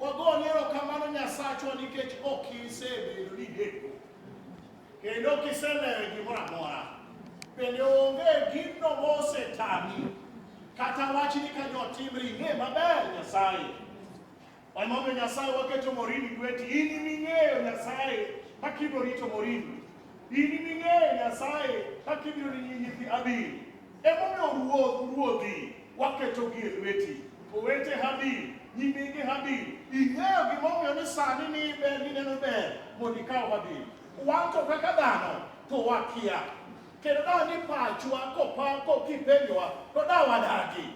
Wagone erokamano Nyasachwa nikech ok isebedo ni neko kendo ok iselewe gimoro amora. Bende onge gino mosetami kata wachni ka jo timri ing'e maber Nyasaye. Emomiyo Nyasaye waketo morini lweti, in iming'eyo Nyasaye kaka ibiro rito morini, in iming'eyo Nyasaye kaka ibiro rito nyithi Abiri. Emomiyo ruodh ruodhi waketogi e lweti. Owete Habil, nyimine Habil, ing'eyo gimomiyo ni sani ni ber nineno ber mondo ikaw Habil. Wan to kaka dhano to wakia. Kendo da ni pachwa kopa kokipenjowa to da wadagi.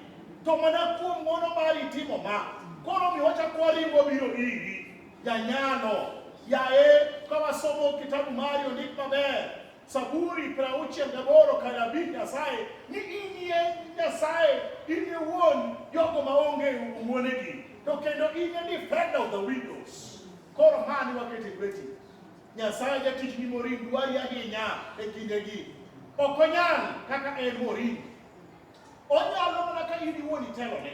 To mana kuom ng'wono mari timo ma. Koro mi wachako waringo biro iri. Janyalo, yaye ka wasomo kitabu mari ondik maber Saburi prauchiel gaboro kanabii Nyasaye ni inie Nyasaye in iwuon jogo maonge wuonegi to kendo in e defender of the widows. Koro mani wakete lweti. Nyasaye jatich ni morin dwari ahinya e kindegi. Ok onyal kaka en morin. Onyalo mana ka in iwuon itelone.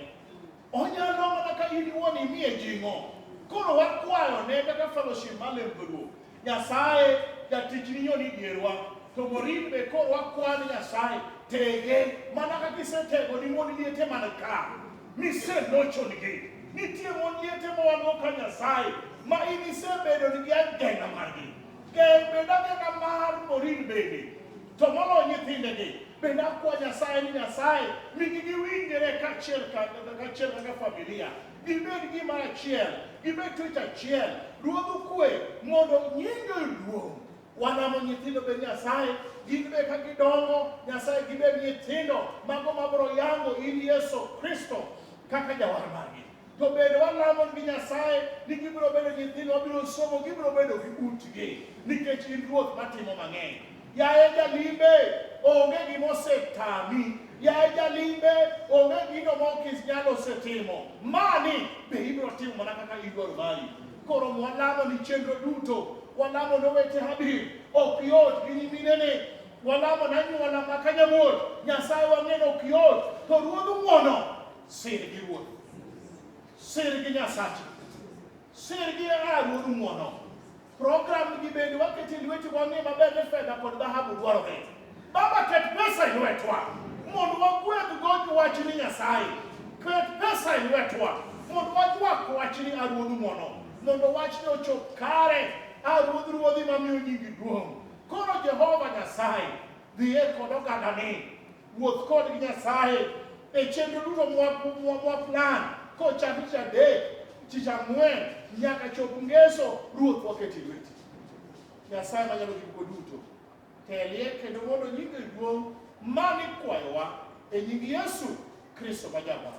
Onyalo mana ka in iwuon imiye jing'o. Koro wakwayo ne kaka fellowship mar Lembruok. Nyasaye jatichni yo ni dierwa. To Morin be koro wakwan Nyasaye tege mana kaka isetego ni mon liete man ka. Miselochonigi. Nitie mon liete ma wan ka Nyasaye ma in isebedo ni gi agenda margi. Geng' bed agenda mar Morin bende. To moloyo nyithindegi. Bende akwa Nyasaye ni Nyasaye migi giwinjre kaachiel kaachiel kaka familia, gibed gima achiel, gibed twech achiel. Ruodhu kwe mondo nyingi oduong'. Wanamo nyithindo be Nyasaye, gin be ka gidongo Nyasaye gibed nyithindo mago mabiro yango in Yesu Kristo kaka jawar margi. To bende walamo gi Nyasaye ni gibiro bedo nyithindo, wabiro somo, gibiro bedo gi utgi nikech in Ruoth matimo mang'eny. Yaye jalimbe, onge gima osetami. Yaye jalimbe, onge gino ma ok inyalo osetimo. Mani be ibiro timo mana kaka idwaro mari. Koro mwalamo ni chenro duto, walamo ne weche Habir, ok yot gi nyiminene, walamo ne anyuola ma Kanyamuol, Nyasaye wang'e ni ok yot, to Ruodh ng'wono, sir gi Ruoth, sir gi Nyasachi. Sirgi e a Ruodh ng'wono. Program gi bende waket e lweti wang'e maber ni fedha kod dhahabu dwarore. Baba, ket pesa e lwetwa mondo wagwedhgo wachni Nyasaye. Ket pesa e lwetwa mondo waywak wachni a Ruodh ng'wono, mondo wachni ochop kare a Ruodh ruodhi mamiyo nyingi duong'. Koro Jehova Nyasaye, dhiye kod ogandani Wuoth kod gi Nyasaye e chenro duto mwa plan kochakre tich adek, tich ang'wen nyaka chop ngeso, Ruoth waketo e lweti. Nyasaye manyalo gik moko duto, telie kendo mondo nyingi duong' ma nikwayowa e nying Yesu Kristo ma Jawar.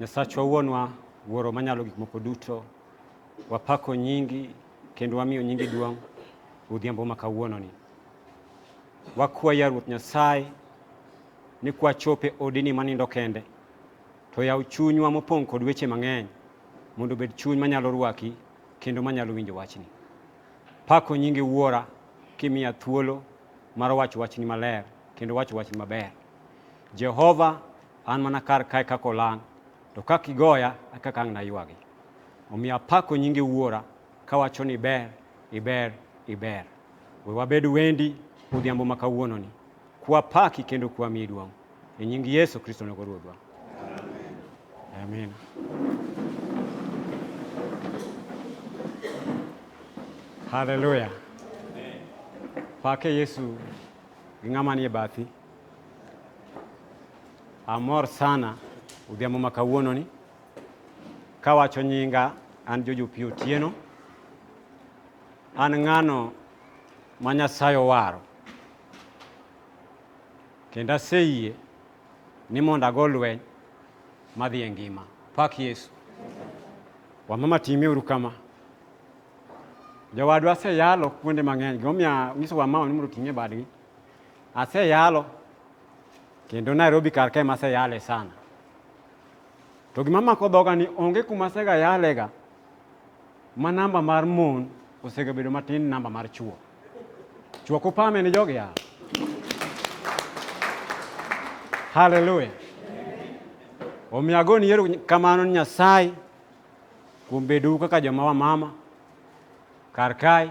Nyasachwa Wuonwa, Wuoro manyalo gik moko duto, wapako nyingi kendo wamiyo nyingi duong' odhiambo ma kawuononi. Wakwaya Ruoth Nyasaye ni kwachope odini manindo kende, to yaw chunywa mopong' kod weche mang'eny mondo obed chuny manyalo rwaki kendo manyalo winjo wachni. Pako nyingi Wuora kimiya thuolo mar wacho wachni maler kendo wacho wachni maber. Jehova An mana kar kae kaka olang', to ka kigoya e kaka ang' naywagi. Omiyo apako nyingi Wuora, kawacho ni iber, iber, iber. We wabed wendi odhiambo ma kawuononi, kwapaki kendo kwamiyi duong'. E nying Yesu Kristo nogo Ruodhwa. Amen. Haleluya. Pake Yesu gi ng'ama nie bathi. Amor sana odhiambo ma kawuononi kawacho nyinga an Jojo Pi Otieno. An ng'ano ma Nyasaye owaro kendo aseyie ni mondo ago lweny madhi e ngima. Pak Yesu. Wamama time uru kama. Jowadwa aseyalo kuonde mang'eny. Gimomiyo anyiso wamama ni mondo oting'e badgi Aseyalo kendo Nairobi kar kae maseyale sana. To gima mako dhoga ni onge kuma asega yalega ma namba mar mon osega bedo matin namba mar chuo. Chuo kupame ni jogi ya. Haleluya. Omiyo agoni yero kamano ni Nyasaye kuom bedou kaka joma wamama kar kae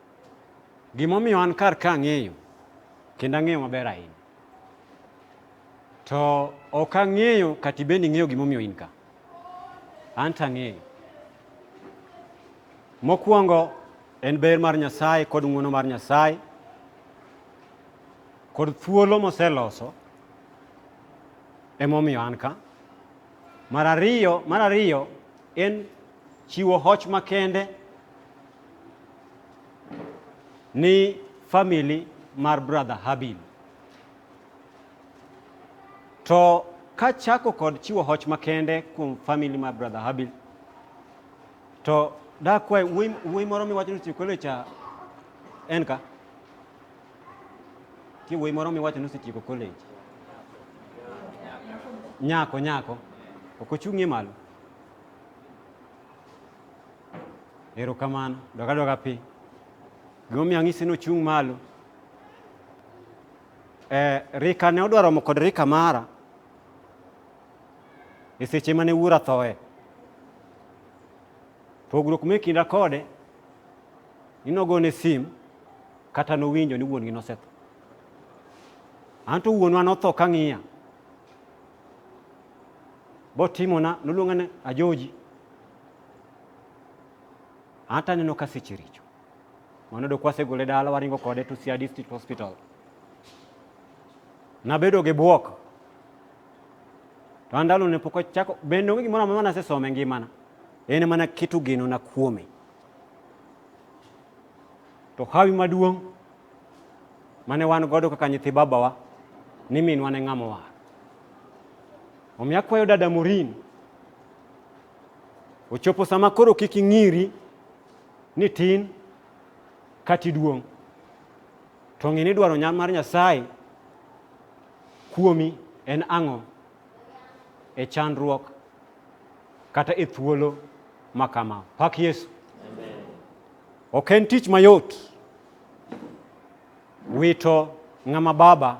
Gimomiyo an kar ka ang'eyo, kendo ang'eyo maber ahinya. To ok ang'eyo kata ibende ing'eyo gimomiyo in ka. An to ang'eyo. Mokwongo en ber mar Nyasaye kod ng'wono mar Nyasaye kod thuolo moseloso emomiyo an ka. Mar ariyo, mar ariyo en chiwo hoch makende ni family mar brother Habil. To kachako kod chiwo hoch makende kuom family mar brother Habil, to dakwa wuoyi moro miwacho ni Sikole cha en ka ti wuoyi moro miwacho ni osetieko college nyako nyako ok ochung'ie malo Erokamano. Dog adoga piny. Gimomiyo ang'isi ni ochung' malo. Eh, rika ne odwa romo kod rika mara e seche mane wuora thoe. Pogruok me kinda kode ni nogone sim kata nowinjo ni wuon-gi nosetho. Anto wuonwa notho ka ng'iya. Botimona noluonga ni Ajoji. Hata neno ka seche richo. Mano do kwasegole dala waringo kode to Siaya District Hospital. Nabedo gi bwok. To andalo ne pok achako bende onge gimoro amora nasesome e ngimana. En mana keto geno na kuome. To hawi maduong' mane wan godo kaka nyithi babawa ni minwa ne ng'ama war. Omiyo akwayo dada Morin Ochopo sama koro kik ing'iri ni tin kata iduong'. To ng'e ni dwaro nyal mar Nyasaye kuomi en ang'o e chandruok kata e thuolo ma kama. Pak Yesu. Ok en tich mayot. Wito ng'ama baba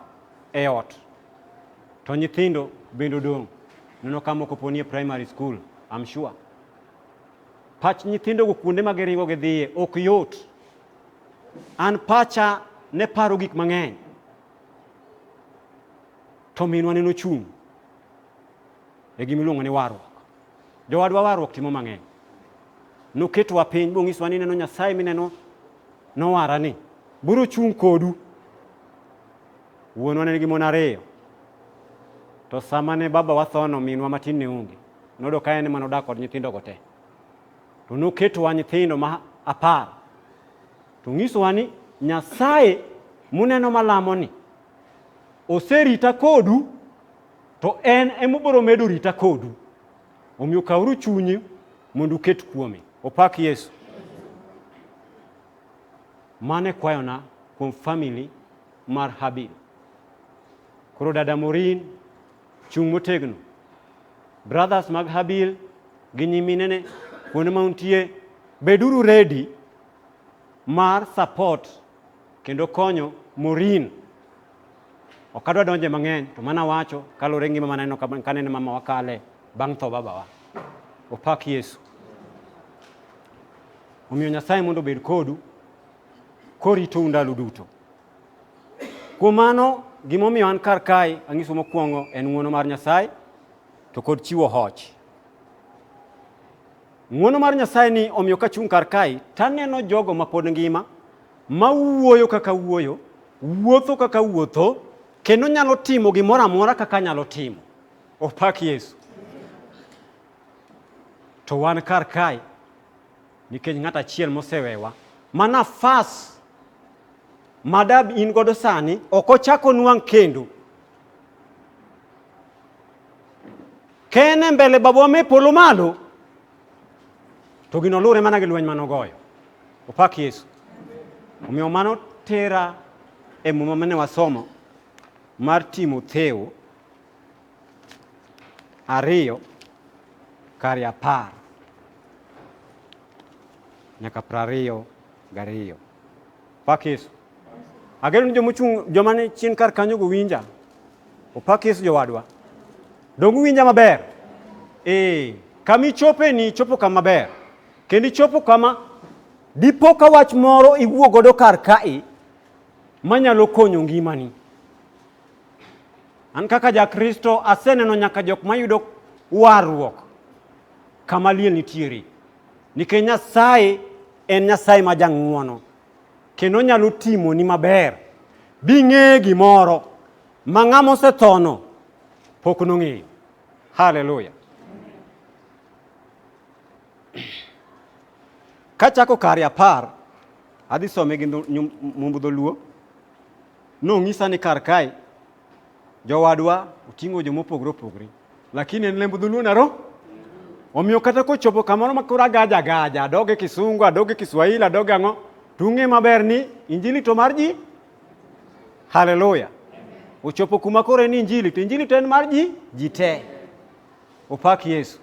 e ot to nyithindo bende odong' nono ka moko poni e primary school I'm sure pach nyithindogo kuonde ma giringo gidhiye ok yot an pacha ne paro gik mang'eny to minwa ne nochung' e gima iluongo ni warruok jowadwa warruok timo mang'eny noketwa piny bong'iswa ni neno nyasaye mineno Nowara ni, biro chung' kodu. Wuonwa ne nigi mon ariyo. To sama ne baba wathono, minwa matin ne onge. Nodo ka en ema nodak kod nyithindo go te. To noketowa nyithindo ma apar. To ng'isowa ni Nyasaye muneno malamo ni oserita kodu to en emobiro medo rita kodu. Omiyo kawuru chunyi mondo uket kuome. Opak Yesu. Mano e kwayona kuom famili mar Habil. Koro dada Morin, chung' motegno. Brothers mag Habil gi nyiminene kuonde ma untie, beduru redi mar support kendo konyo Morin Ok adwa donje mang'eny to mana wacho kalore ngima maneno kaneno mama wakale bang' tho babawa. Opak Yesu. Omiyo Nyasaye mondo obed kodu koritou ndalo duto. Kuom mano gimomiyo an kar kae ang'iso mokwongo en ng'uono mar Nyasaye to kod chiwo hoch. Ng'uono mar Nyasaye ni omiyo kachung' kar kae taneno jogo mapod ngima ma wuoyo kaka wuoyo, wuotho kaka wuotho, kendo nyalo timo gimoro amora kaka nyalo timo. Opak Yesu. To wan kar kae nikech ng'at achiel mosewewa ma nafas madab in godo sani ok ochak onwang' kendo kene mbele babwa me polo malo To gino luwre mana gi lweny mane ogoyo. Opak Yesu. Omiyo mano tera e muma mane wasomo mar Timotheo ariyo kare apar nyaka prariyo gariyo. Pak Yesu. Ageno ni joma ochung' joma ni chien kar kanyo go winja. Opak Yesu jowadwa. Dongu winja maber. Eh, kama ichope ni chopo kama ber. Kendo ichopo kama dipo ka wach moro iwuo godo kar kae manyalo konyo ngimani. An kaka Jakristo aseneno nyaka jok mayudo warruok kama liel nitiere. Nikech Nyasaye en Nyasaye ma jang'uono kendo onyalo timoni maber bing'eye gimoro ma ng'ama osethono pok nong'eyo. Haleluya! Kachako kare apar, adhi some gi dho- nyum- mumb dholuo, nong'isa ni kar kae Jowadwa oting'o jo mopogre opogre, lakini en lemb dholuo naro. Omiyo kata kochopo kamoro ma koro agaja agaja, adoge kisungu, adoge kiswahili, adoge ang'o, to ung'e maber ni injili to mar ji. Haleluya! Ochopo kuma koro en injili, to injili to en mar ji, ji te. Opak Yesu.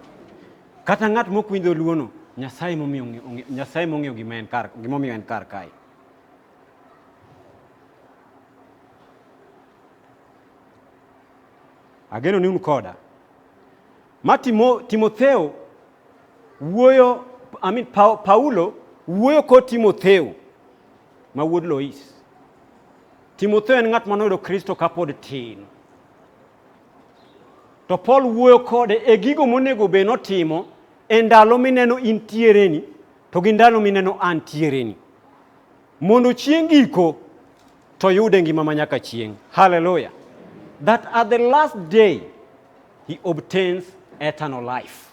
Kata ng'at mokwinjo luono, Nyasaye momiyo ong'e- ong'e- Nyasaye mong'eyo gima en kar, gimomiyo en kar kae. Ageno ni un koda. Ma Timo, Timotheo wuoyo, I mean, pa, Paulo wuoyo kod Timotheo ma wuod Lois. Timotheo en ng'at manoyudo Kristo kapod tin. To Paul wuoyo kode e gigo monego bed notimo e ndalo mineno intiereni to gi ndalo mineno antiereni. mondo chieng' giko to yude ngima ma nyaka chieng'. Hallelujah. That at the last day he obtains eternal life.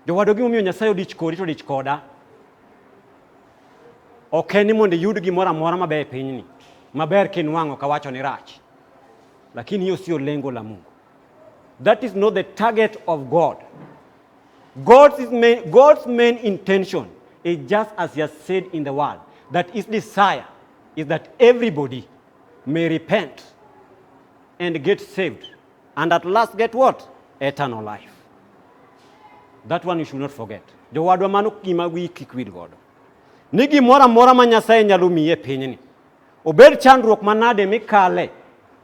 Jowadwa gimomiyo Nyasaye odich kodi to odich koda ok en ni mondo iyud gimoro amora maber e pinyni maber kinwang'o kawacho ni rach lakini hiyo sio lengo la mungu that is not the target of god God's main, God's main intention is just as he has said in the word that his desire is that everybody may repent and get saved and at last get what? Eternal life. That one you should not forget. Jowadwa mano gima wi kik wil godo. Ni gimoro amora ma Nyasaye nyalo miyi e pinyni. Obed chandruok manade mikale,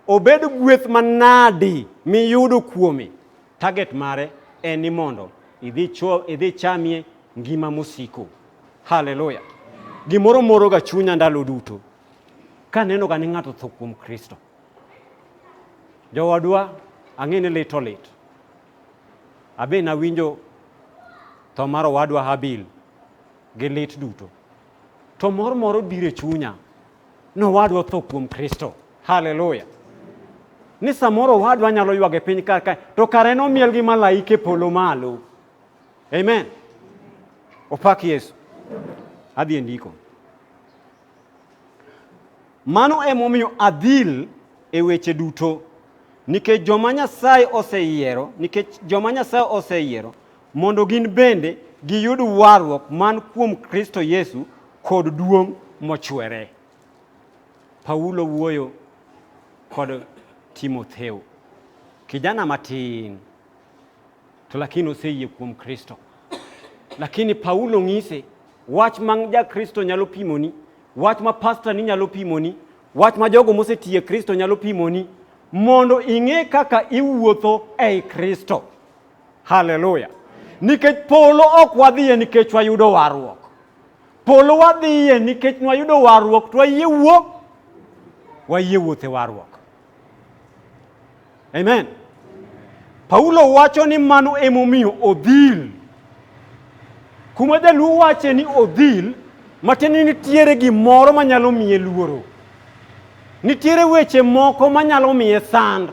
obed gweth manadi miyudo kuome, Target mare en ni mondo idhi chuo idhi chamie ngima mosiko. Haleluya. Gimoro moro ga chunya ndalo duto ka neno ga ni ng'ato tho kuom Kristo. Jowadwa ang'e ni lit olit. Abe nawinjo tho mar owadwa Habil gi lit duto. To mor moro biro e chunya ni owadwa otho kuom Kristo. Haleluya! Ni samoro owadwa nyalo ywag e piny kar kae, to kare nomiel gi malaike polo malo. Amen. Opak Yesu. Adhi e ndiko. Mano emomiyo adhil e weche duto nikech joma Nyasaye oseyiero, nikech joma Nyasaye oseyiero Mondo gin bende giyud warruok man kuom Kristo Yesu kod duong' mochwere. Paulo wuoyo kod Timotheo, kijana matin to lakini oseyie kuom Kristo. Lakini Paulo ng'ise wach ma ja Kristo nyalo pimoni, wach ma pasta ni nyalo pimoni, wach ma jogo mosetiye Kristo nyalo pimoni mondo ing'e kaka iwuotho ei Kristo. Haleluya! Nikech polo ok wadhiye nikech wayudo warruok. Polo wadhiye nikech nwayudo warruok to wayie wuok, wayie wuoth e warruok. Amen. Paulo wacho ni mano emomiyo odhil. Kuma jaluo wache ni odhil, matiende nitiere gimoro manyalo miye luoro. Nitiere weche moko manyalo miye sand.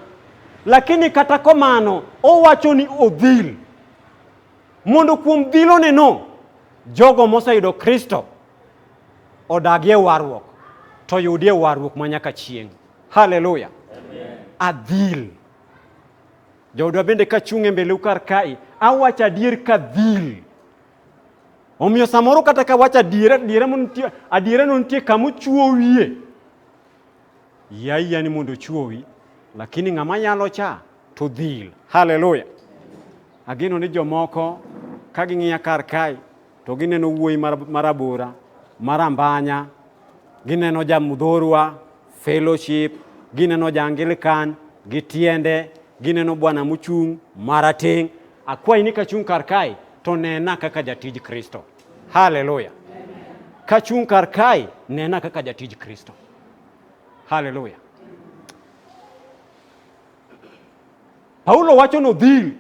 Lakini kata komano owacho ni odhil mondo kuom dhiloneno jogo moseyudo Kristo odagie warruok to yudie warruok ma nyaka chieng'. Haleluya! Adhil. Joodwa bende ka chung' e mbeleu kar kae, awacho adier ka dhil. Omiyo samoro kata ka wacho adiera, adiera mo nitie, adierano nitie kama ochwowie. Yaiya ni mondo ochuowi, lakini ng'ama yalo cha to dhil. Haleluya! Ageno ni jomoko ka ging'iya kar kae to gineno wuoyi marabora, marambanya, gineno ja mudhorwa, fellowship, gineno ja Anglican, gitiende, gineno bwana muchung' marateng'. Akwayi ni kachung' kar kae to nena kaka jatij Kristo. Haleluya! Kachung' kar kae nena kaka jatij Kristo. Haleluya. Paulo wacho nodhil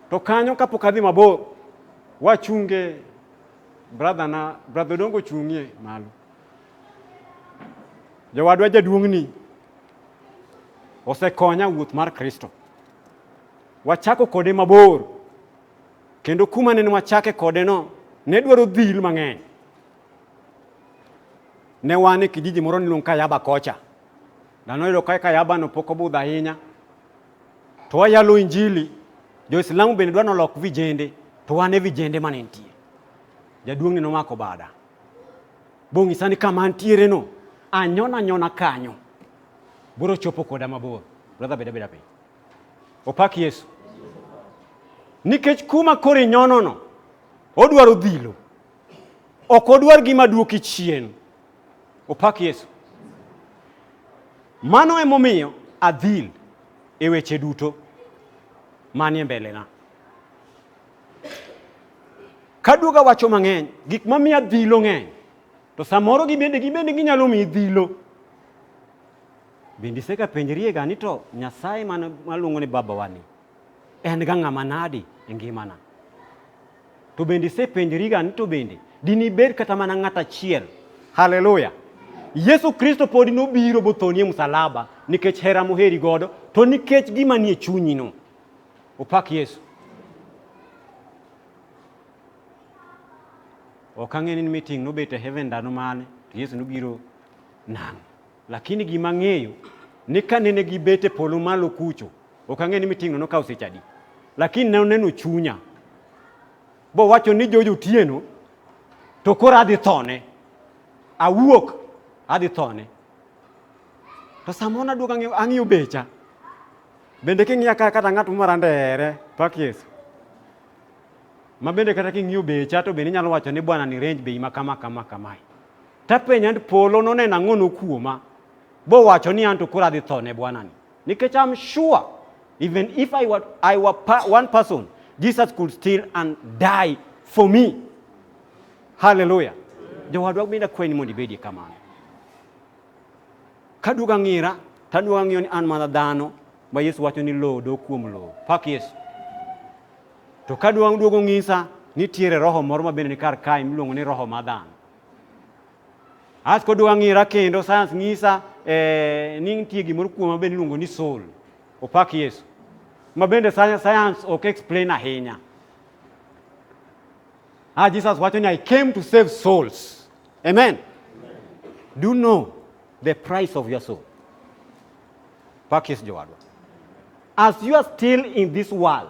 to kanyo kapok adhi mabor wachunge brother na brother dongo chung'ie malo jowadwa jaduong'ni osekonya wuoth mar kristo wachako kode mabor kendo kuma ne wachake kode no ne dwaro dhil mang'eny Ne wan e kijiji moro niluongo Kayaba kocha. Dhano yudo ka Kayaba no pok obudho ahinya. To wayalo injili, jo-Islamu bende dwa nolok vijende, to wan e vijende mane nitie. Jaduong'ni nomako bada. Bong'isa ni kama antiere no, anyona anyona kanyo. Biro chopo koda mabor. Brother beda beda piny. Opak Yesu. Nikech kuma koro inyonono, odwaro dhilo. Ok odwar gima duoki chien. Opak Yesu. Mano emomiyo adhil e weche duto manie mbelena. Kaduoga wacho mang'eny, gik mamiyo adhilo ng'eny, to samoro gibende gibende ginyalo miyi dhilo. Bende isega penjriega ni to Nyasaye maluongo ni Babawani en ga ng'ama nadi e ngimana. To bende isepenjoriga ni to bende dinibed kata mana ng'at achiel. Haleluya! Yesu Kristo pod nobiro bothonie msalaba nikech hera moheri godo to nikech gima nie chunyino. Opak Yesu. Ok ang'e ni meeting nobet e heaven ndalo mane to Yesu nobiro nang'. Lakini gima ang'eyo ni ka nene gibet e polo malo kucho, ok ang'e ni miting'no nokawo seche adi, lakini ne oneno chunya bowacho ni George Otieno to koro adhi thone, awuok adhi thone. To samoro naduogo ang'iyo- ang'iyo becha bende king'iya ka kata ng'at moro andere pak Yesu ma bende kata king'iyo becha to bende inyalo wacho ni bwana ni range bei ma kama kama kamae Tapenja ni polo noneno ang'ono kuoma bowacho ni anto koro adhi tho ne bwanani nikech am sure even if I were, I were pa, one person Jesus could still and die for me haleluya jowadwa bende akwayi ni mondo ibedie kamano kaduogo ang'ira taduogo ang'iyo ni an mana dhano ma yesu wacho ni lowo dok kuom lowo pak yesu to kaduogo duogo ng'isa nitiere roho moro ma bende ni kar kae miluongo ni roho ma dhano As kod wang'ira kendo science ng'isa eh, ni nitie gimoro kuoma bende iluongo ni soul. Opak Yesu. Ma bende science ok explain ahinya. Ah, Jesus wacho ni I came to save souls. Amen. Amen. Do you know the price of your soul? Pak Yesu jowadwa. As you are still in this world,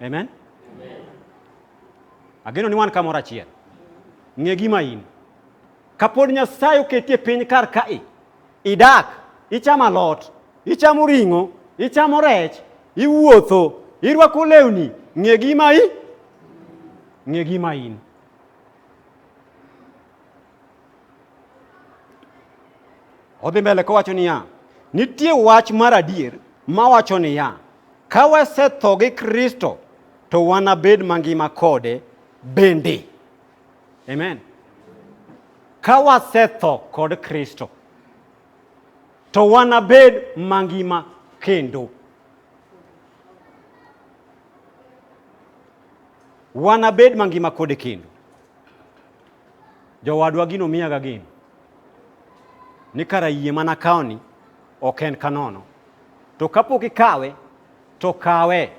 Amen? Amen. Ageno ni wan kamoro achiel. Ng'e gima in. Kapod Nyasaye oketi e piny kar kae, idak, ichamo alot, ichamo ring'o, ichamo rech, iwuotho, irwako lewni, ng'e gima i ng'e gima in. Odhi mbele kowacho niya, nitie wach mar adier mawacho niya, ka wasetho gi Kristo to wanabed mangima kode bende. Amen. Ka wasetho kod Kristo to wanabed mangima kendo. Wanabed mangima kode kendo. Jowadwa gino miyaga geno ni kara yie mana kawoni ok en kanono. To kapok ikawe, to kawe.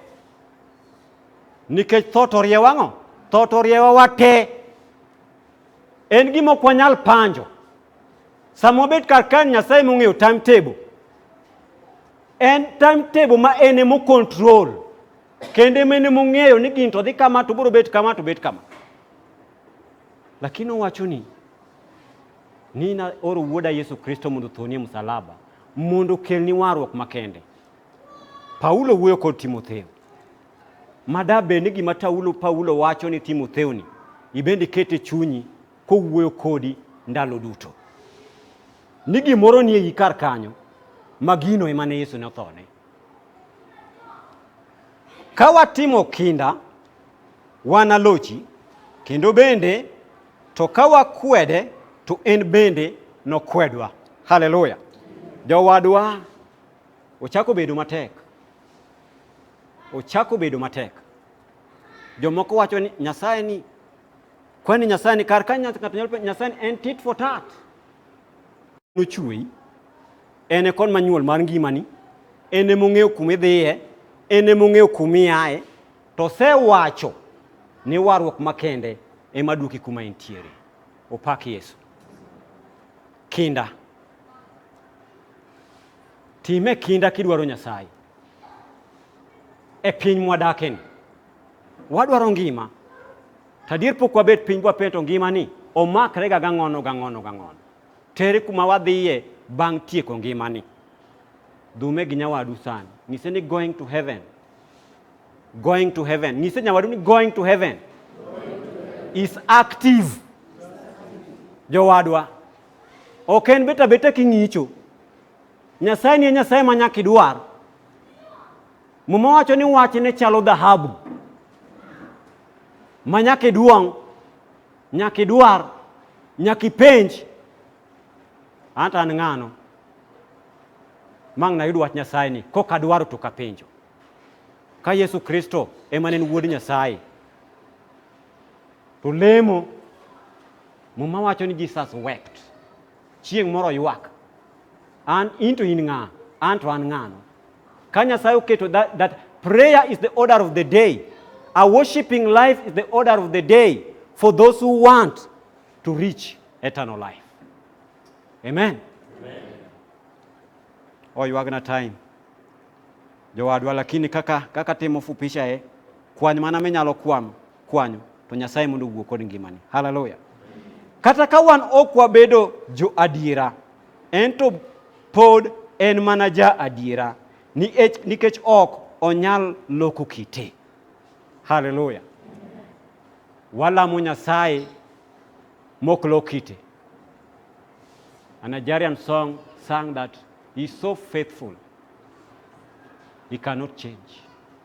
Nikech tho to riewa ang'o? Tho to riewa wate. En gima ok wanyal panjo. Sama wabet kar kae Nyasaye mong'eyo timetable. En timetable ma en emo control. Kendo ema en ema ong'eyo ni gini to dhi kama to biro bet kama to bet kama. Lakini owacho ni ni na oro wuoda Yesu Kristo mondo othonie msalaba mondo okelni warruok makende. Paulo wuoyo kod Timotheo. Mada bed ni gima Taulo Paulo wacho ni Timotheo ni ibende kete chunyi kowuoyo kodi ndalo duto. Ni gimoro ni e kar kanyo ma gino ema ne Yesu ne othone. Ka watimo kinda, wanalochi, kendo bende to ka wakwede, to en bende nokwedwa. Haleluya! Jowadwa, ochako bedo matek, ochako bedo matek. Jomoko wacho ni Nyasaye ni kwani Nyasaye ni kar ka Nyasaye en tit for tat, nochweyi En e kon manyuol mar ngimani, en e mong'eyo kuma idhiye, en e mong'eyo kuma iaye, to osewacho ni warruok makende ema duoki kuma intiere. Opak Yesu. Kinda. Time kinda kidwaro Nyasaye. E piny mwadakeni. Wadwaro ngima. Tadier pok wabet piny bwapeto ngimani omakre ga gang'ono gang'ono gang'ono. Tere kuma wadhiye bang' tieko ngimani. Dhume gi nyawadu sani. Nyise ni going to heaven. Going to heaven. Nyise nyawadu ni going to heaven. Is active. Jowadwa. Ok en beta beta king'icho. Nyasaye ni e Nyasaye ma nyaka idwar. Muma wacho ni wachne chalo dhahabu. Ma nyaka iduong' Nyaka idwar, nyaka ipenj. Anto an ng'ano? Mang' nayud wach Nyasaye ni kok adwaro to kapenjo. Ka Yesu Kristo ema ne en wuod Nyasaye, to lemo, Muma wacho ni Jesus wept. Chieng' moro ywak. An in to in ng'a? An to an ng'ano? Ka Nyasaye oketo that, that prayer is the order of the day. A worshiping life is the order of the day for those who want to reach eternal life. Amen. Amen. Oh, you are time. Jowadwa lakini kaka kaka timo fupisha e eh? kwany mana minyalo kwam kwanyo to Nyasaye mondo owuo kod ngimani. Haleluya. Kata ka wan ok wabedo jo adiera, en to pod en mana ja adiera nikech ok onyal loko kite. Haleluya. Walamo Nyasaye mok lok kite. A Nigerian song sang that he's so faithful. He cannot change.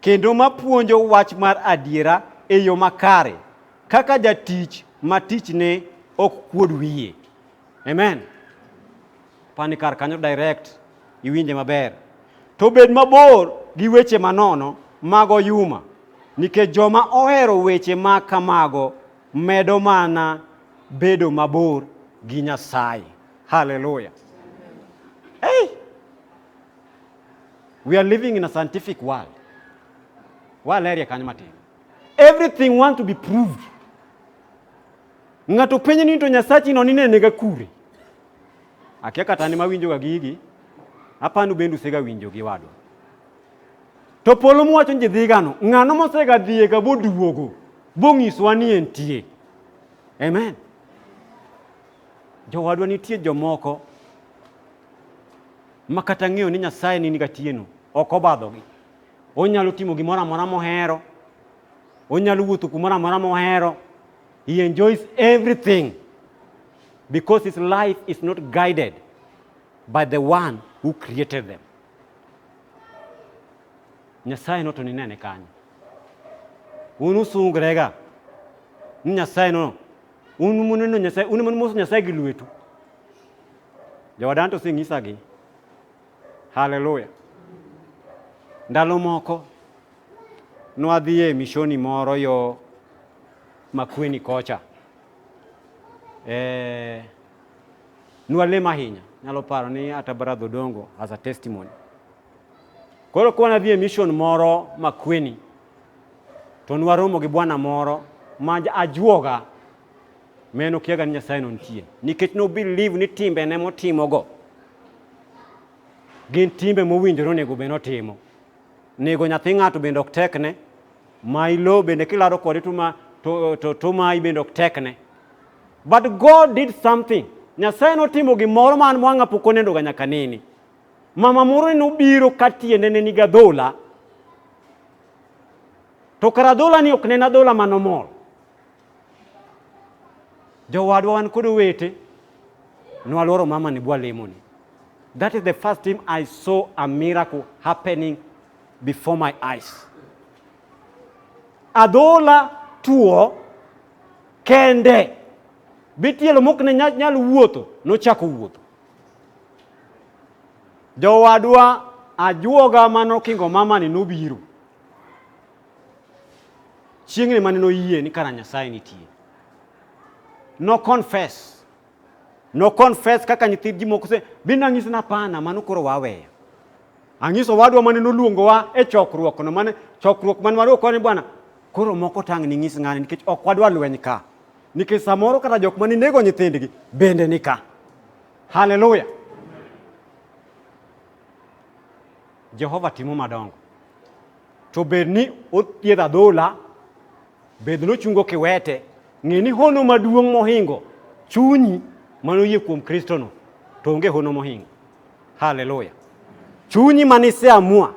kendo ma puonjo wach mar adiera e yo makare, kaka jatich ma tichne ok kuod wiye. Amen. Pani kar kanyo direct iwinje maber. To bed mabor gi weche manono mago yuma, nikech joma ohero weche ma kamago medo mana bedo mabor gi Nyasaye. Haleluya. Hey! We are living in a scientific world. Waleria kanyo matin. Everything want to be proved. Ng'ato penjo ni to Nyasachi no ninenega kure. Akia kata ni mawinjoga gigi. Apanu bendu sega winjo gi wado. To polo muwacho ni dhigano, ng'ano mosega dhiye ga boduogo, bong'iswa ni entie. Amen. Jowadwa nitie jomoko ma kata ng'eyo ni Nyasaye ni gatieno ok obadhogi. Onyalo timo gimoro amora mohero, onyalo wuotho kumoro amora mohero. He enjoys everything because his life is not guided by the one who created them. Nyasaye no to ninene kanyo. Un usungrega ni Nyasaye no, un muneno Nyasaye, un munumoso Nyasaye gi lwetu. Jowadan to osenyisagi. Haleluya. Ndalo moko nwadhi e mishoni moro yo Makueni kocha. Eh, nwalem ahinya. Nyalo paro ni ata Brother Odongo as a testimony. Koro ka wanadhi e mission moro Makueni to nwaromo gi bwana moro ma ajuoga Miyo nokiaga ni Nyasaye no nitie nikech no believe ni timbe ne motimogo gin timbe mowinjore onego bed notimo. Nego nyathi ng'ato bende ok tekne, ma ilo bende kilaro kode to ma to, to, to mayi bende ok tekne. But God did something. Nyasaye notimo gimoro man mwang'a pok onendoga nyaka nini. Mama moro ne obiro ka tiende ne niga dhola. To kara dhola ni ok nena dhola manomol. jowadwa wan kod owete nwalworo mama ni bwalemoni that is the first time i saw a miracle happening before my eyes adhola tuo kende bitielo mok ne nyal wuotho nochako wuotho jowadwa ajuoga manokingo mamani nobiro Chieng'ni mane noyie ni kara Nyasaye nitie. No confess. No confess kaka nyithi ji moko se bin ang'isi na pana mano koro waweyo. Ang'iso wadwa mane noluongowa e chokruok no mane chokruok mane wadwa kone bwana koro moko tang' ni ng'is ng'ani nikech ok wadwa lweny ka. Nikech samoro kata jok mane nego nyithindgi bende ni ka. Haleluya. Jehova timo madongo. To bed ni othiedho adhola, bed ni ochungo kiwete, ng'e ni hono maduong' mohingo chunyi mano yie kuom Kristono, to onge hono mohingo. Haleluya! Chunyi mane iseamua,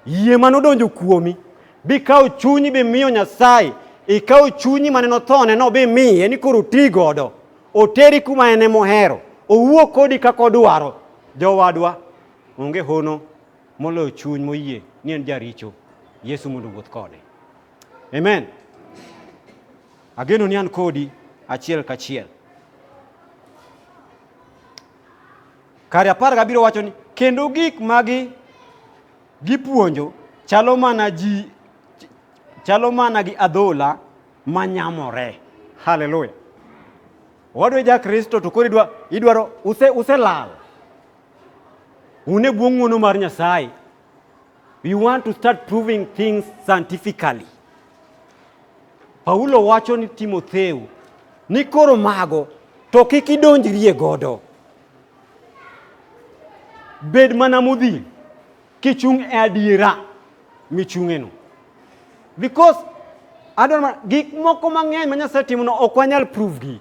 yie mane odonjo kuomi, bikawo chunyi bimiyo Nyasaye, ikawo chunyi mane nothone no bimiye ni koro ti godo, oteri kuma en emohero, owuo kodi kaka odwaro. Jowadwa, onge hono moloyo chuny moyie ni en jaricho yesu mondo wuoth kode amen ageno ni an kodi achiel kachiel kare apar gabiro wacho ni kendo gik magi gipuonjo chalo mana ji chalo mana gi adhola manyamore haleluya owadwa ja kristo to koro idwa idwaro use uselal Un e bwo ng'wono mar Nyasaye. We want to start proving things scientifically. Paulo wacho ni Timotheo ni koro mago to kik idonjrie godo. Bed mana modhi kichung' e adiera michung'eno. Because adwaro gik moko mang'eny ma Nyasaye timono ok wanyal prove gi.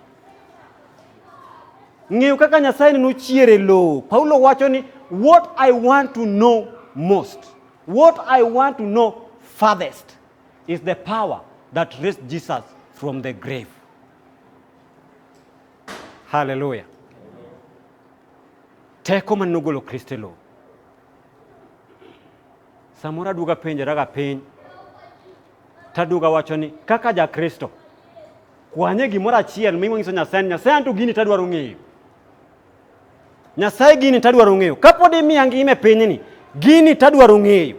Ng'eyo kaka Nyasaye neno chier e lowo. Paulo wacho ni what I want to know most, what I want to know farthest is the power that raised Jesus from the grave. Hallelujah. Teko man nogolo Kristo e lowo. Samoro aduoga penjora ga piny Taduoga wacho ni kaka ja Kristo kwanye gimoro achiel mingo nyiso Nyasaye ni Nyasaye anto gini tadwaro ng'eyo. Nyasaye gini tadwaro ng'eyo. Kapod imiya ngima e pinyni, gini tadwaro ng'eyo.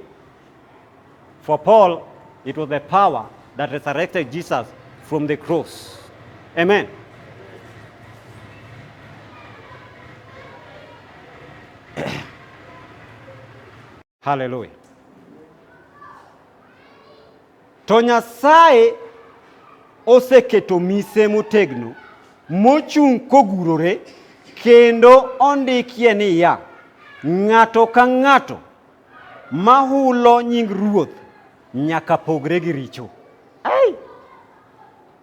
For Paul, it was the power that resurrected Jesus from the cross. Amen. Haleluya! To Nyasaye oseketo mise motegno mochung' kogurore kendo ondikie niya, ng'ato ka ng'ato ma hulo nying Ruoth nyaka pogre gi richo. Ai!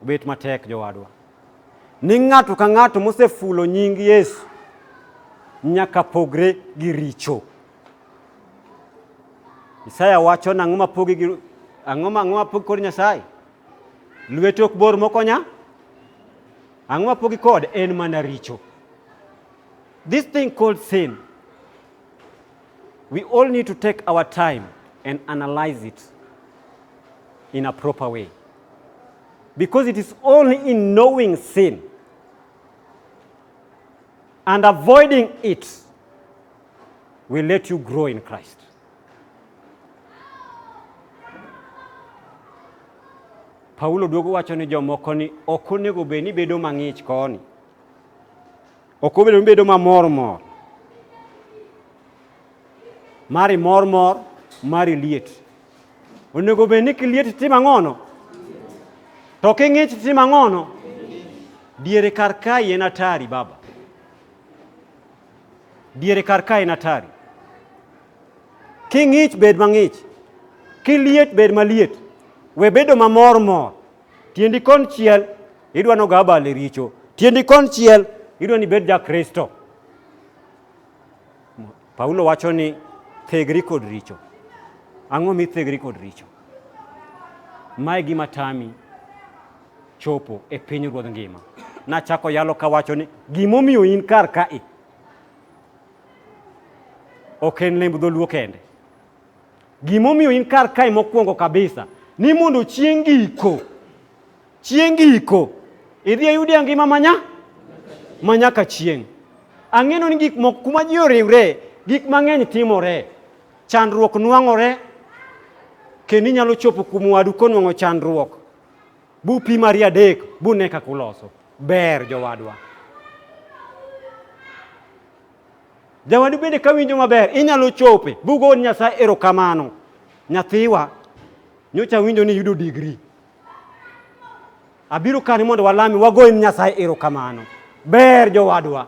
Obet matek jowadwa. Ni ng'ato ka ng'ato mosefulo nying Yesu nyaka pogre gi richo. Isaya wacho nang'o ma pogi gi ang'o ma ang'o ma pogi kod Nyasaye? Lwete ok bor mokonya? Ang'o ma pogi kod en mana richo. This thing called sin. We all need to take our time and analyze it in a proper way. Because it is only in knowing sin and avoiding it will let you grow in Christ. Paulo duogo wacho ni jomoko ni ok onego bed ni bedo mang'ich koni, ok obedo ni bedo mamor mor, mari mor mor, mari liet. Onego bed ni kiliet tim ang'ono, to king'ich tim ang'ono, diere kar kae en atari baba. Diere kar ka en atari. King'ich bed mang'ich, kiliet bed maliet, we bedo mamor mor. Tiendi konchiel idwa noga abal e richo, tiendi konchiel idwa ni bed ja Kristo. Paulo wacho ni thegri kod richo. Ang'o mithegri kod richo? Mae gima tami chopo e piny ruodh ngima. Nachako yalo kawacho ni gimomiyo in kar kae ok en lemb dholuo kende. Gimomiyo in kar kae mokwongo kabisa ni mondo chieng' giko chieng' giko idhi ayudi angima manya manyaka chieng' ang'eno ni gik moko kuma ji oriwre gik mang'eny timore chandruok nwang'ore kendo inyalo chopo kuom wadu konwang'o chandruok Bupimari adek bune kaka uloso. Ber jowadwa. Jawadu bende ka winjo maber, inyalo chope. Bugo Nyasaye erokamano. Nyathiwa, nyocha winjo ni yudo digri. Abiro kani mondo walami wagoyne Nyasaye erokamano. Ber jowadwa.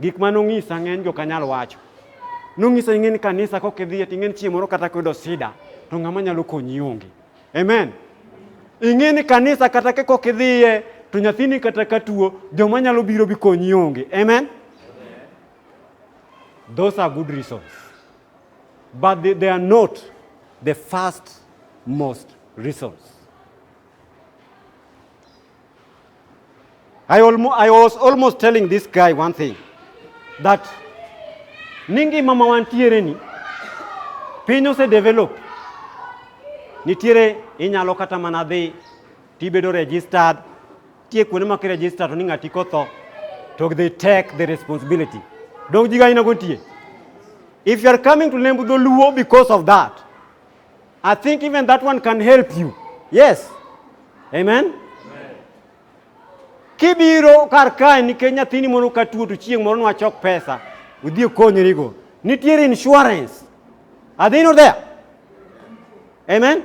Gik ma nong'isa ng'eny jo kanyal wacho. Nong'isa ing'e ni kanisa kok idhiye to ing'e ni chieng' moro kata kuyudo sida to ng'ama nyalo konyi onge. Amen. Ing'e ni kanisa kata ka kok idhiye to nyathini kata ka tuo joma nyalo biro bi konyi onge. Amen. Those are good reasons. But they, they are not the first most reasons. I, almo, I was almost telling this guy one thing that ni ngima ma wantiere ni piny ose develop nitiere inyalo kata mana dhi tibedo registered tie kuonde ma kiregister to ni ng'ati kotho to they take the responsibility donk jiga ina gontie if you are coming to lembu dholuo because of that I think even that one can help you. Yes. Amen. Kibiro kar kae nikech nyathini moro ka tuo to chieng' moro nwachok pesa udhi okonyrigo. Nitiere insurance. Are they not there? Amen.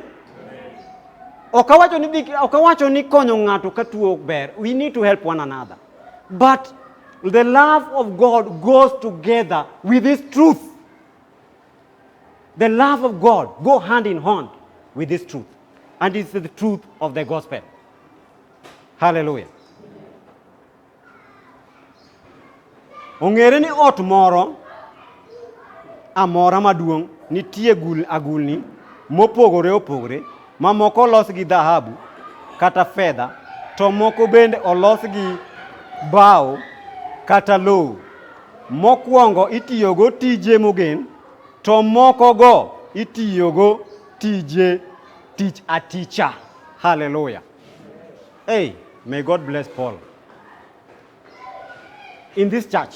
Ok awacho ni dhi- ok awacho ni konyo ng'ato ka tuo ok ber. We need to help one another. But the love of God goes together with this truth. The love of God go hand in hand with this truth. And it's the truth of the gospel. Hallelujah. Ong'ere ni ot moro amora maduong' nitie gul agulni mopogore opogore ma moko olos gi dhahabu kata fedha, to moko bende olos gi bao kata lowo. Mokwongo itiyogo tije mogen, to mokogo itiyogo tije tich aticha. Hallelujah. Hey, may God bless Paul. In this church,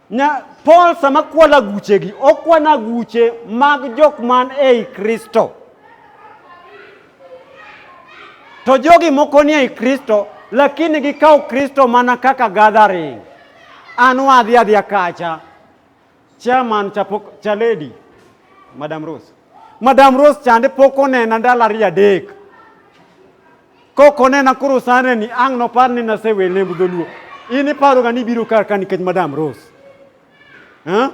Nya Paul sama kwalo aguchegi, okwano aguche mag jok man ei Kristo. To jogi moko ni ei Kristo, lakini gikawo Kristo mana kaka gathering. An wadhi adhiya kacha. Chairman chapo, chaledi, Madam Rose. Madam Rose chande pok onena ndalo ariyo adek. Kok onena koro sane ni ang' nopar ni nasewe lemb dholuo. In iparoga ni ibiro kar ka nikech Madam Rose. Huh?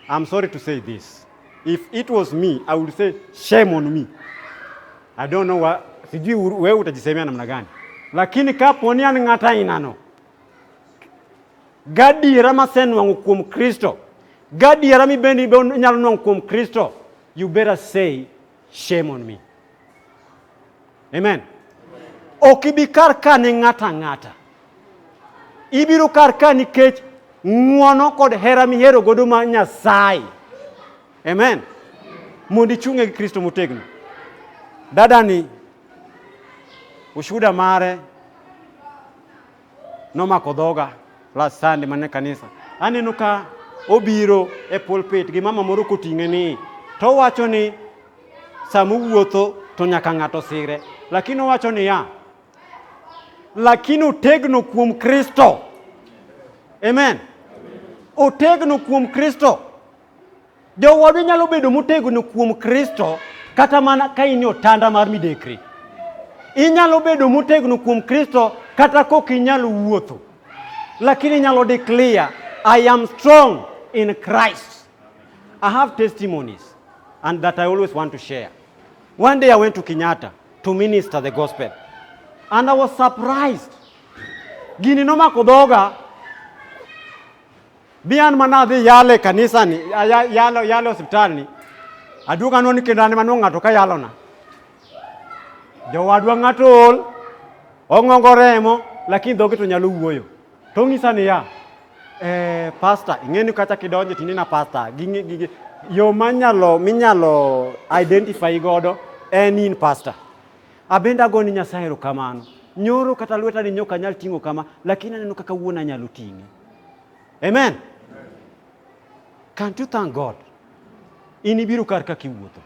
I'm sorry to say this. If it was me, I would say shame on me. I don't know what, sijui wewe utajisemea namna gani, lakini kapo ni an ng'ata ainano gadiera masenwang'o kuom Kristo gadiera mibendi inyalo nwang'o kuom Kristo you better say Shame on me. Amen. Ok ibi kar ka ne ng'ato ang'ata. Ibiro kar ka nikech ng'wono kod hera mihero godo ma Nyasaye. Amen. Mondo ichung'e gi Kristo motegno. Dadani ushuda mare nomako dhoga last Sunday mane kanisa. Aneno ka obiro e pulpit gi mama moro koting'e ni to owacho ni sama owuotho to nyaka ng'ato sire, lakini owacho niya, lakini otegno kuom Kristo. Amen. Otegno kuom Kristo. Jowadwa nyalo bedo motegno kuom Kristo kata mana ka in e otanda mar midekre. Inyalo bedo motegno kuom Kristo kata kok inyalo wuotho, lakini inyalo declare I am strong in Christ. I have testimonies and that I always want to share. One day I went to Kenyatta to minister the gospel and I was surprised. Gini nomako dhoga Bian mana dhi yalo e kanisani, yalo yalo hospitalni. Aduogo anwo ni kendo an ema ng'ato ka yalona. Jowadwa ng'ato ol, ong'ongo remo, lakini dhoge to nyalo wuoyo. To ong'isa niya, eh, pasta, ing'e ni kacha kidonje tini na pasta, ging'e gige, yo manyalo minyalo identify godo en in pasta. Abenda go ni Nyasaye erokamano. Nyoro kata lweta ni nyoka nyal ting'o kama, lakini aneno kaka wuona nyalo ting'e. Amen. Can't you thank God? In ibiro kar kaka iwuotho.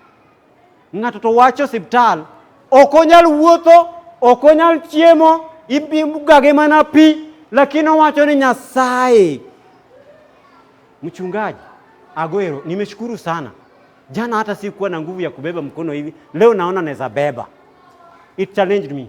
Ng'ato to wacho osiptal, ok onyal wuotho, ok onyal chiemo, ibugage mana pi, lakini owacho ni Nyasaye. Mchungaji, Agwero, nimeshukuru sana. Jana hata sikuwa na nguvu ya kubeba mkono hivi, leo naona naweza beba. It challenged me.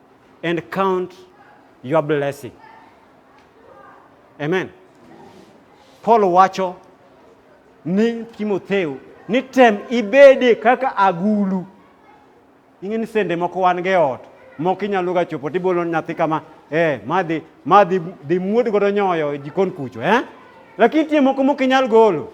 and count your blessing. Amen. Paul wacho ni Timotheo ni tem ibede kaka agulu. Ing'e ni sende moko wan ge ot moko inyalo ga chopo tibolo nyathi kama eh madhi madhi dhi muod godo nyoyo e jikon kucho eh lakini tie moko mok inyal golo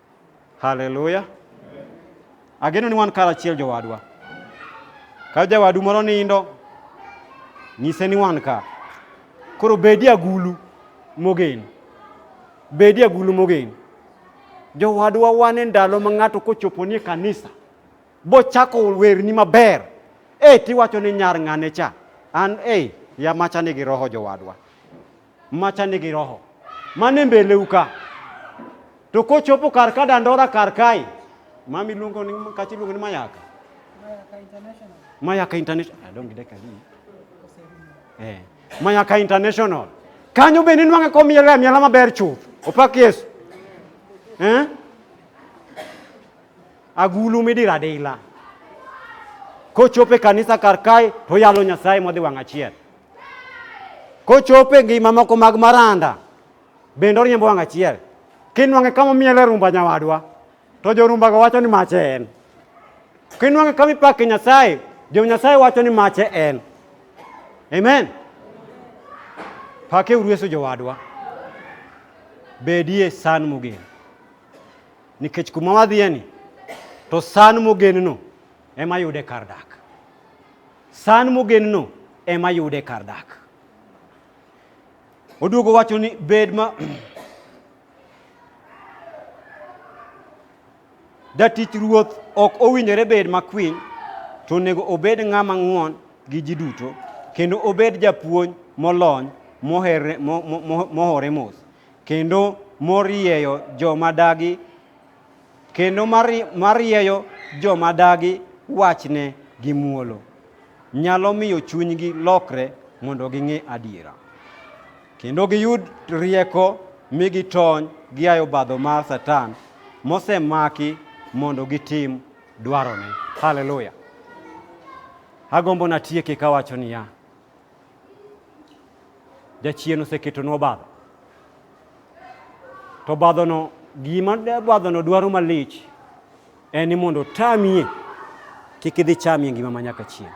Haleluya. Ageno ni wan karachiel jowadwa. Ka jawadu moro nindo, nyise ni wan ka. Koro bedi agulu mogen. Bedi agulu mogen. Jowadwa wan e ndalo ma ng'ato kochopo ni e kanisa, bochako werni maber, e tiwacho ni nyar ng'ane cha. An e, yamacha nigi roho jowadwa. macha nigi roho mane mbeleu ka to kochopo kar ka dandora kar kae mami luongo ni kachi luongo ni mayaka mayaka international i don't get eh mayaka international kanyo bende nwang'e komiela miela maber chuth opak yesu eh agulu midira adila kochope kanisa kar kae to yalo nyasaye modhi wang' achiel Kochopo e ngima moko mag maranda, bende oriembo wang' achiel. Kinwang'e kama omiele rumba nyawadwa, to jorumbago wacho ni mache en. Kinwang'e kama ipake Nyasaye, jo Nyasaye wacho ni mache en. Amen. Pake urueso jowadwa. Bedie san mogen. Nikech kuma wadhiye ni, to san mogen no ema yude kar dak. San mogenno ema yude kar dak. Oduogo wacho ni bed ma jatich ruoth ok owinjore bed makwiny to onego obed ng'ama ng'won gi ji duto kendo obed japuonj molony mohere- mo- mo- mo- mohore mos kendo morieyo joma dagi kendo marieyo joma dagi wachne gi muolo nyalo miyo chunygi lokre mondo ging'e adiera kendo giyud rieko mi gitony gia e obadho mar Satan mosemaki mondo gitim dwarone. Haleluya! Agombo natieki kawacho niya, Jachien oseketonu obadho. To obadhono, gima obadhono dwaro malich en ni mondo otamie kik idhi chamie ngima ma nyaka chieng'.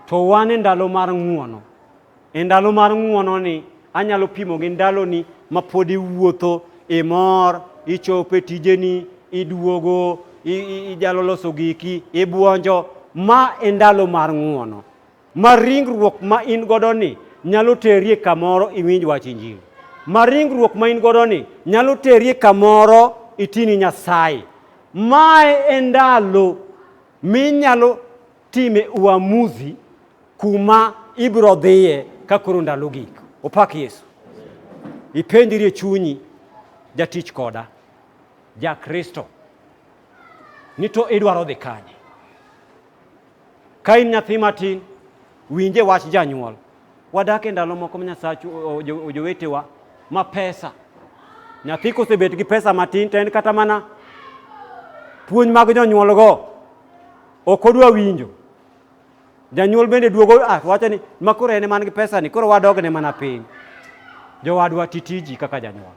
To wan e ndalo mar ng'uono. E ndalo mar ng'uono ni anyalo pimo gi ndaloni ma pod iwuotho, imor, ichopo e tijeni, iduogo, ijalo loso giki, ibuonjo. Ma e ndalo mar ng'uono. Ma ringruok ma in godo ni nyalo terie kamoro iwinj wach injili. Ma ringruok ma in godo ni nyalo terie kamoro itini Nyasaye. Mae e ndalo minyalo time uamuzi kuma ibiro dhiye ka koro ndalo gik. Opak Yesu. Ipenjri e chunyi jatich koda ja Kristo ni to idwaro dhi kanye? Ka in nyathi matin, winje wach janyuol. Wadak e ndalo moko ma Nyasachu ojowetewa ma pesa. Nyathi kosebet gi pesa matin to en kata mana puonj mag jonyuolgo ok odwa winjo. Janyuol bende duogo ah, wacho ni ma koro en man gi pesa ni koro wadogne mana piny. Jowadwa titiji kaka janyuol.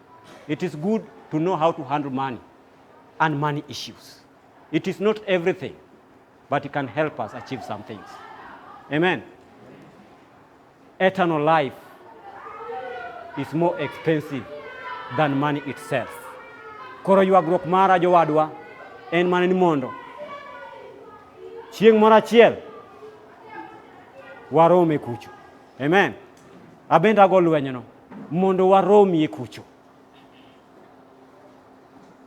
It is good to know how to handle money and money issues. It is not everything, but it can help us achieve some things. Amen. Eternal life is more expensive than money itself. Koro ywagruok mara jowadwa en mana ni mondo chieng' moro achiel warome kucho. Amen. Abenda go lwenyno. mondo waromie kucho.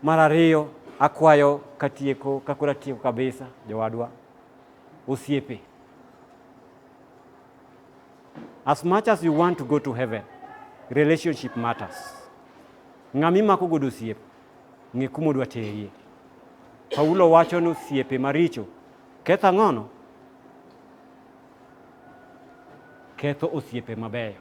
Mar ariyo, akwayo katieko kakoro atieko kabisa jowadwa osiepe as much as you want to go to heaven relationship matters ng'ama imako godo osiep ng'e kuma odwa terie paulo wacho ni osiepe maricho ketho ang'ono ketho osiepe mabeyo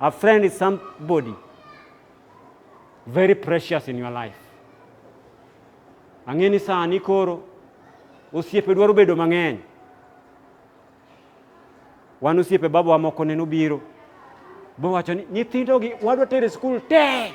A friend is somebody very precious in your life. Ang'e ni sani koro osiepe dwaro bedo mang'eny. Wan osiepe babawa moko neno biro bowacho ni nyithindogi wadwa tere skul tee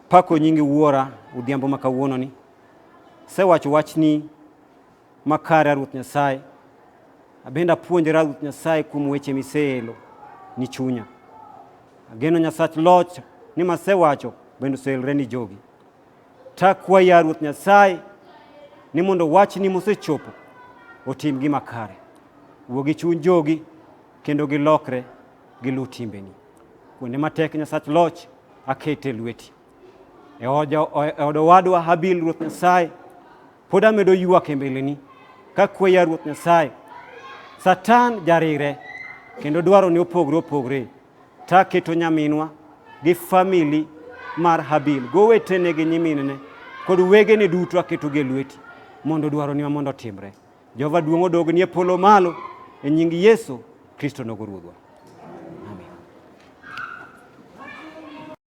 Pako nyingi wuora udhiambo ma kawuononi. Sewacho wachni makare a Ruoth Nyasaye. Abende apuonjora Ruoth Nyasaye kuom weche miseelo ni chunya. Ageno Nyasach loch ni masewacho bende oseelre ni jogi. Takwa ya Ruoth Nyasaye ni mondo wachni mosechopo otim gima kare. Wuo gi chuny jogi kendo gilokre giluw timbeni. Kuonde matek Nyasach loch akete lweti. E, e od owadwa Habil Ruoth Nyasaye pod amedo ywak e mbeleni ka kweya Ruoth Nyasaye. Satan jarire kendo dwaro ni opogre opogre. Ta keto nyaminwa gi famili mar Habil gowetene gi nyiminene kod wegene duto aketogi e lweti mondo dwaroni ma mondo otimre. Jehova duong' odog nie polo malo e nying Yesu Kristo nogo Ruodhwa.